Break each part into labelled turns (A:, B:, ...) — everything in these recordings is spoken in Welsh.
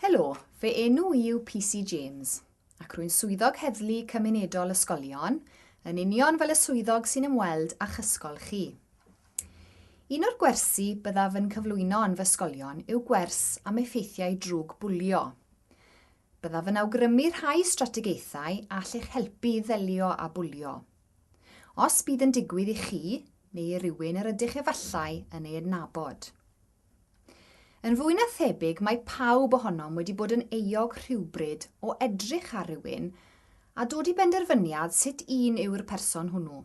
A: Helo, fy enw i yw PC James, ac rwy'n Swyddog Heddlu Cymunedol Ysgolion, yn union fel y swyddog sy'n ymweld â'ch ysgol chi. Un o'r gwersi byddaf yn cyflwyno yn fy ysgolion yw gwers am effeithiau drwg bwlio. Byddaf yn awgrymu rhai strategaethau a all eich helpu i ddelio â bwlio. Os bydd yn digwydd i chi, neu i rywun yr ydych efallai yn ei adnabod. Yn fwy na thebyg mae pawb ohonom wedi bod yn euog rhywbryd o edrych ar rywun a dod i benderfyniad sut un yw'r person hwnnw.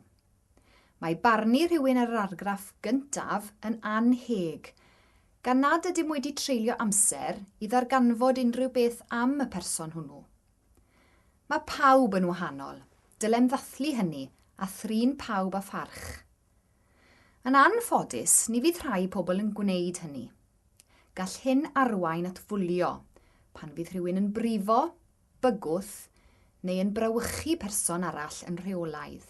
A: Mae barnu rhywun ar yr argraff gyntaf yn annheg, gan nad ydym wedi treulio amser i ddarganfod unrhyw beth am y person hwnnw. Mae pawb yn wahanol, dylem ddathlu hynny a thrin pawb â pharch. Yn anffodus, ni fydd rhai pobl yn gwneud hynny. Gall hyn arwain at fwlio, pan fydd rhywun yn brifo, bygwth, neu yn brawychu person arall yn rheolaidd.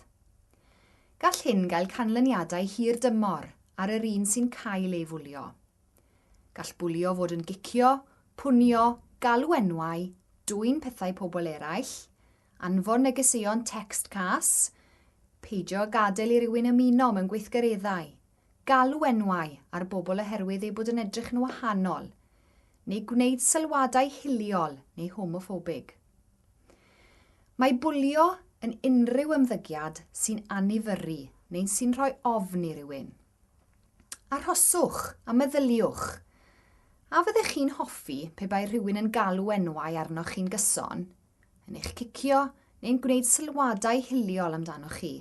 A: Gall hyn gael canlyniadau hir dymor ar yr un sy'n cael ei fwlio. Gall bwlio fod yn gicio, pwnio, galw enwau, dwyn pethau pobl eraill, Anfon negeseuon tecst cas, peidio â gadael i rywun ymuno mewn gweithgareddau, galw enwau ar bobl oherwydd eu bod yn edrych yn wahanol, neu gwneud sylwadau hiliol neu homoffobig. Mae bwlio yn unrhyw ymddygiad sy'n anifyrru neu'n sy'n rhoi ofn i rywun. Arhoswch a meddyliwch, A fyddech chi'n hoffi pe bai rhywun yn galw enwau arnoch chi'n gyson? yn eich cicio neu'n gwneud sylwadau hiliol amdanoch chi.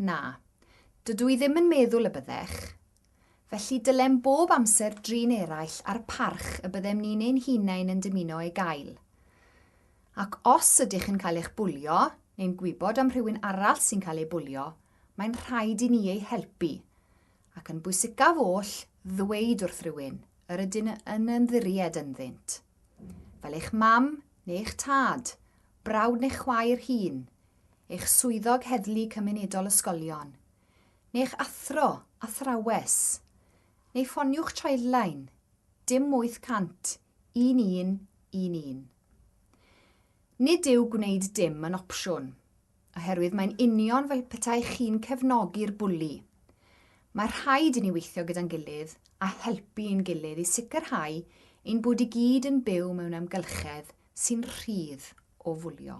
A: Na, dydw i ddim yn meddwl y byddech. Felly dylem bob amser drin eraill a'r parch y byddem ni'n ein hunain yn dymuno ei gael. Ac os ydych yn cael eich bwlio, neu'n gwybod am rhywun arall sy'n cael ei bwlio, mae'n rhaid i ni ei helpu. Ac yn bwysicaf oll, ddweud wrth rywun, yr ydyn yn ymddiried ynddynt. fel eich mam neu'ch tad, brawd neu chwaer hŷn, eich swyddog heddlu cymunedol ysgolion, neu'ch athro, athrawes, neu ffoniwch Childline, dim 800-1111. Nid yw gwneud dim yn opsiwn. Oherwydd mae'n union fel petai chi'n cefnogi'r bwli. Mae rhaid i ni weithio gyda'n gilydd a helpu ein gilydd i sicrhau ein bod i gyd yn byw mewn amgylchedd sy'n rhydd o fwlio.